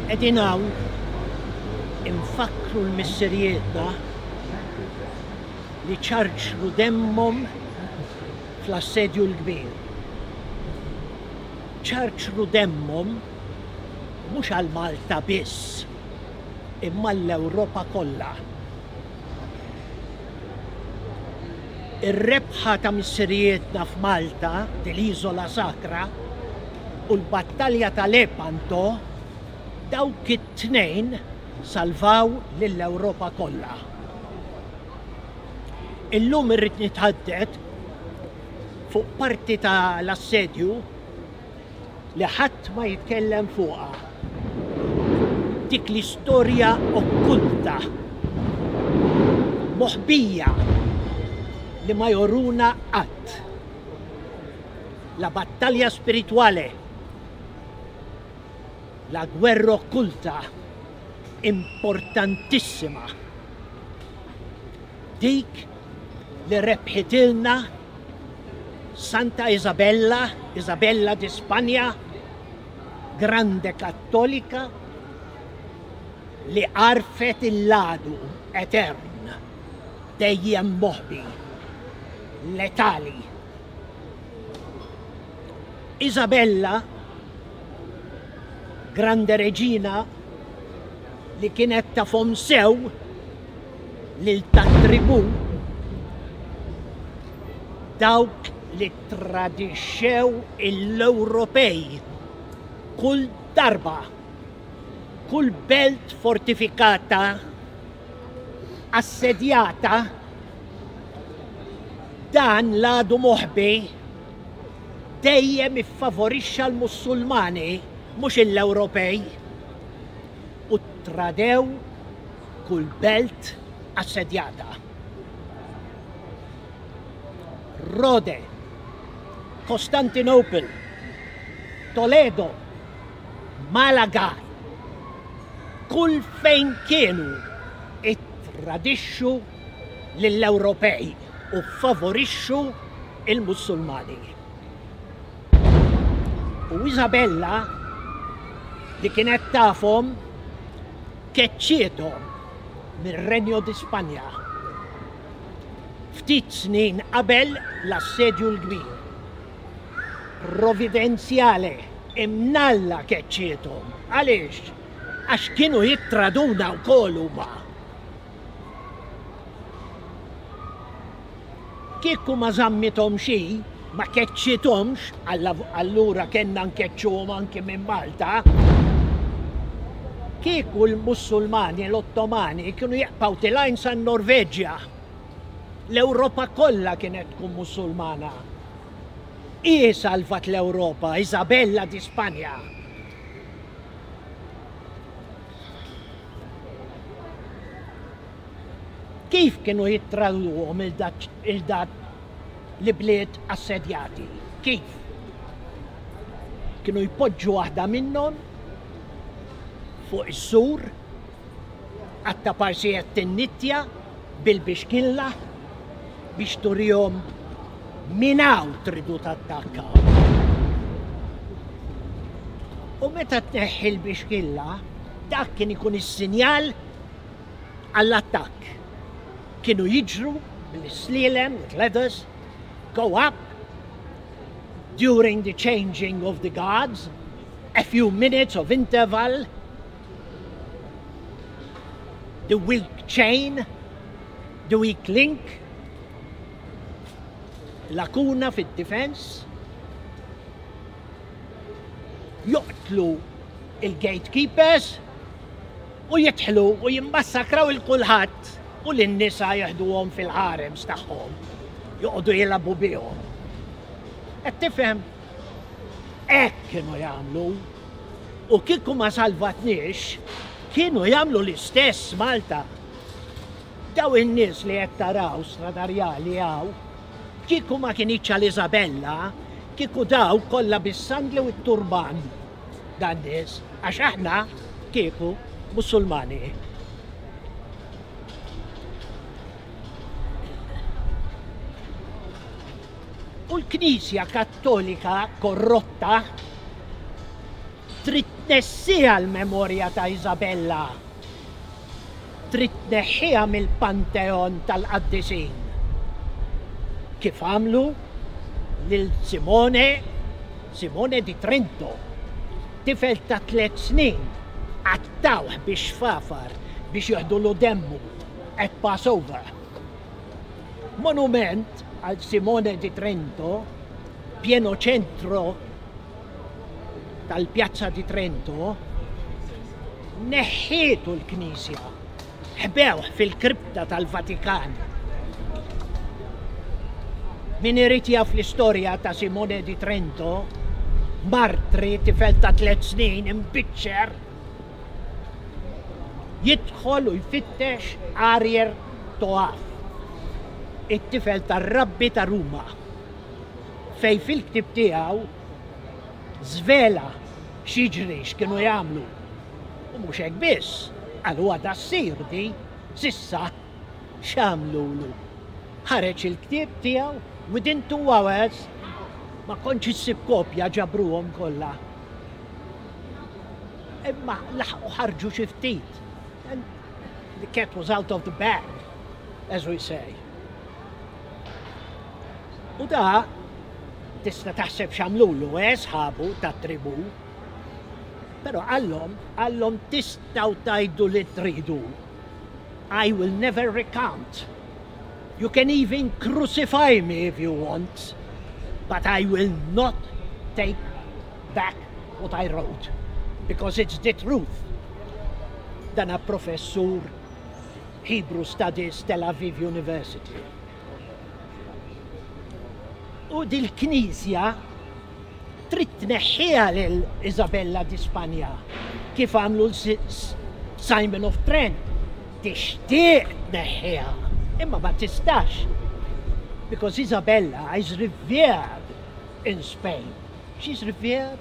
Qegħdin hawn infakkru l-missirijietna li ċarċru demmhom fl-Assedju l-Kbir. Ċarċru demmhom mhux għal Malta biss, imma għall-Ewropa kollha. Ir-rebħa ta' missirijietna f'Malta, l-Isola Sacra, u l-battalja ta' Lepanto, dawk it-tnejn salvaw lill-Ewropa kollha. Illum irrid nithadded fuq parti ta' l-assedju, li ħadd ma jitkellem fuqha, dik l-istorja okkulta, moħbija li ma joruna qatt. La battalja spiritwale, la gwerra okkulta importantissima dik li rebħitilna Santa Isabella, Isabella di Spanja, Grande Kattolika, li għarfet il-ladu etern dejjem moħbi letali. Isabella, Grande Reġina, li kienet tafhom sew lil tat-tribù dawk li ttradixxew l-Ewropej kull darba kull belt fortifikata assedjata dan l-għadu moħbi dejjem iffavorixxa l-Mussulmani mhux l-Ewropej u ttradew kull belt assedjata. Rode, Kostantinopel, Toledo, Malaga, kull fejn kienu it-tradixxu lill-Ewropej u favorixxu il-Musulmani. U Isabella li kienet tafhom keċċiethom mir-Regno di Spanja ftit snin qabel l-Assedju l-Kbir. Providenzjale, Imnalla keċċiethom. Għaliex? Għax kienu jittraduna wkoll huma. Kieku ma żammithomx hi, ma keċċithomx, allura kellna nkeċċuhom anki minn Malta, kieku l-Mussulmani, l-Ottomani, kienu jaqbgħu tilgħin san-Norveġja, l-Ewropa kollha kienet tkun Mussulmana. Hi salvat l-Ewropa, Isabella di Spanja. Kif kienu jittraduhom il-dat l-ibliet assedjati? Kif? Kienu jpoġġu waħda minnhom fuq is-sur, qatta' parsijiet tin-nittja bil-bixkilla biex turihom minn hawn tridu tattakkaw. U meta tneħħi l-bixkilla, dak kien ikun is-sinjal għall-attakk kienu jiġru bl-islielem with ladders go up during the changing of the guards a few minutes of interval the weak chain the weak link lakuna fid-difens joqtlu il-gatekeepers U jidħlu u jimmassakraw 'il kulħadd u lin-nisa jeħduhom fil-harems tagħhom, joqogħdu jilagħbu bihom. Qed tifhem? Hekk kienu jagħmlu. U kieku ma salvatniex, kienu jagħmlu l-istess Malta. Daw in-nies li qed taraw stradarjali hawn, kieku ma kinitx għal Isabella, kieku daw kollha bis-sandli u t-turban. dan nies għax aħna kieku Musulmani. U l-Knisja Kattolika korrotta trid tnessija l-memorja ta' Isabella Trid tneħħiha mill-panteon tal-qaddisin, kif għamlu lil Simone, Simone di Trento. Tifel ta' tliet snin qattgħuh bix-xfafar biex jiħdulu demmu at Passover. Monument għal Simone di Trento, pjeno ċentro tal-Piazza di Trento, neħħietu l-knisja, ħbewh fil-kripta tal-Vatikan. Min irid jaf l-istorja ta' Simone di Trento, martri tifel ta' tliet snin imbiċċer, jidħol u jfittex Arier Toaf, it-tifel tar-rabbi ta' Ruma. fejn fil-ktieb tiegħu żvela x'jiġri x'kienu jagħmlu. U mhux hekk biss, qal huwa da ssir di s'issa x'għamlulu. Ħareġ il-ktieb tiegħu within two hours ma kontx issib kopja ġabruhom kollha. Imma laħqu ħarġu xi ftit. The cat was out of the bag, as we say. U da tista' taħseb x'għamlulu, eh, sħabu tat-tribù. Però qallhom, qallhom tistgħu tgħidu li tridu. I will never recant. You can even crucify me if you want, but I will not take back what I wrote, because it's the truth. Dan professur Hebrew Studies, Tel Aviv University. U dil-Knisja trid tneħħiha lil Isabella di Spanja kif għamlu Simon of Trent. Tixtieq tneħħiha, imma ma tistax. Because Isabella is revered in Spain. She's revered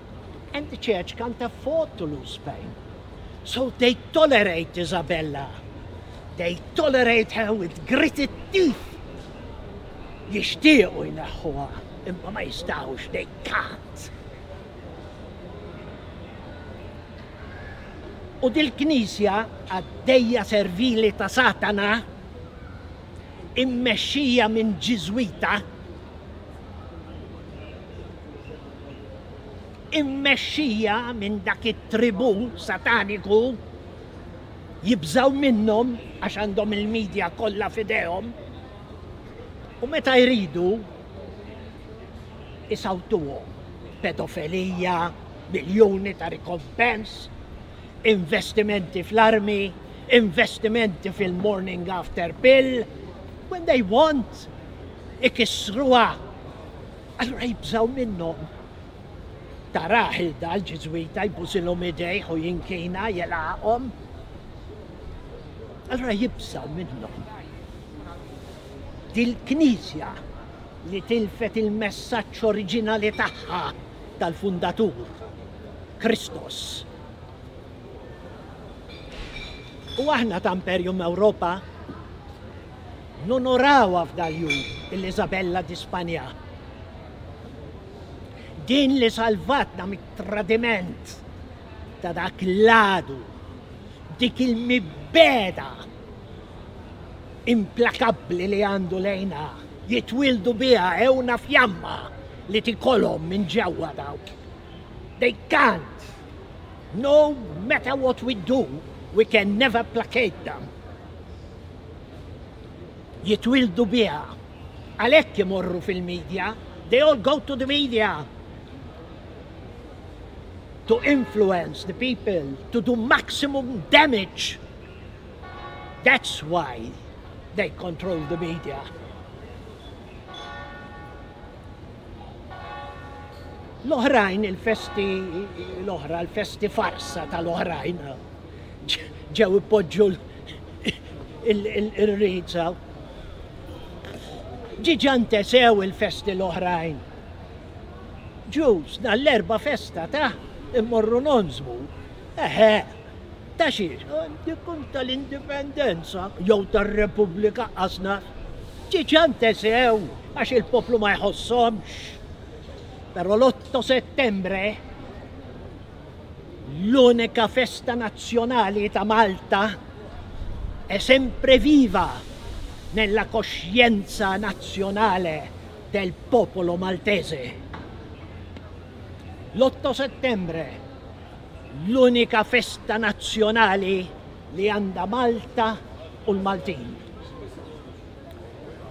And the church can't afford to lose Spain. So they tolerate Isabella. They tolerate her with gritted teeth. Jixtiequ jneħħuha, imma ma jistawx, they can't. U dil-knisja għaddejja servili ta' satana immexxija minn ġiżwita immexxija minn dak it-tribù sataniku, jibżgħu minnhom għax għandhom il-media kollha f'idejhom u meta jridu isawtuhom pedofilija, miljuni ta' rikompens, investimenti fl-armi, investimenti fil-morning after pill, when they want ikissruha. Allura jibżgħu minnhom. Tara ħilda l-Ġiżwita jbusilhom idejh u jinkina jelaqhom. Allura jibżgħu minnhom. Dil-Knisja li tilfet il-messaġġ oriġinali tagħha tal-fundatur, Kristos. U aħna ta' Imperium Ewropa nonorawha f'dal-jum il-Isabella di Spanja. Din li salvatna mit-tradiment ta' dak l-għadu, dik il-mibgħeda implakabbli li għandu lejna, jitwildu biha ewna fjamma li tikolhom minn ġewwa dawk. They can't. No matter what we do, we can never placate them. jitwieldu biha. Għalhekk imorru fil-media, they all go to the media to influence the people, to do maximum damage. That's why they control the media. L-oħrajn, il-festi l-oħra, l-festi farsa tal-oħrajn, ġew ipoġġu il-riza. Ġiġa ntesew il-festi l-oħrajn. Ġus, nall-erba festa ta' immorru nonżmu. Eħe, ta' xiex, dikun tal-indipendenza jew tal-repubblika qasna. Ġiġa ntesew għax il-poplu ma jħossomx. Pero l-8 settembre L-unika festa nazzjonali ta' Malta è sempre viva nella coscienza nazionale del popolo maltese. L-Otto Settembre, l-unika festa nazzjonali li għandha Malta u l-Maltin.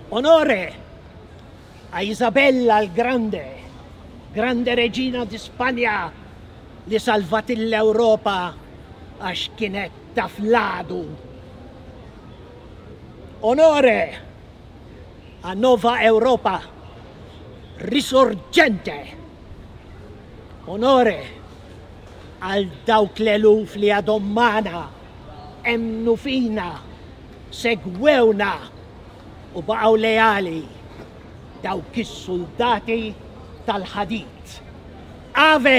Onore! A Isabella l Grande, Grande Regina di Spanja li salvat il Ewropa għax kienet taf l-għadu. Onore a Nova Europa Risorgente, Onore għal dawk l-eluf li għadhom magħna, emmnu fina, segwewna. u baqgħu leali dawk is-suldati tal-ħadid. Ave!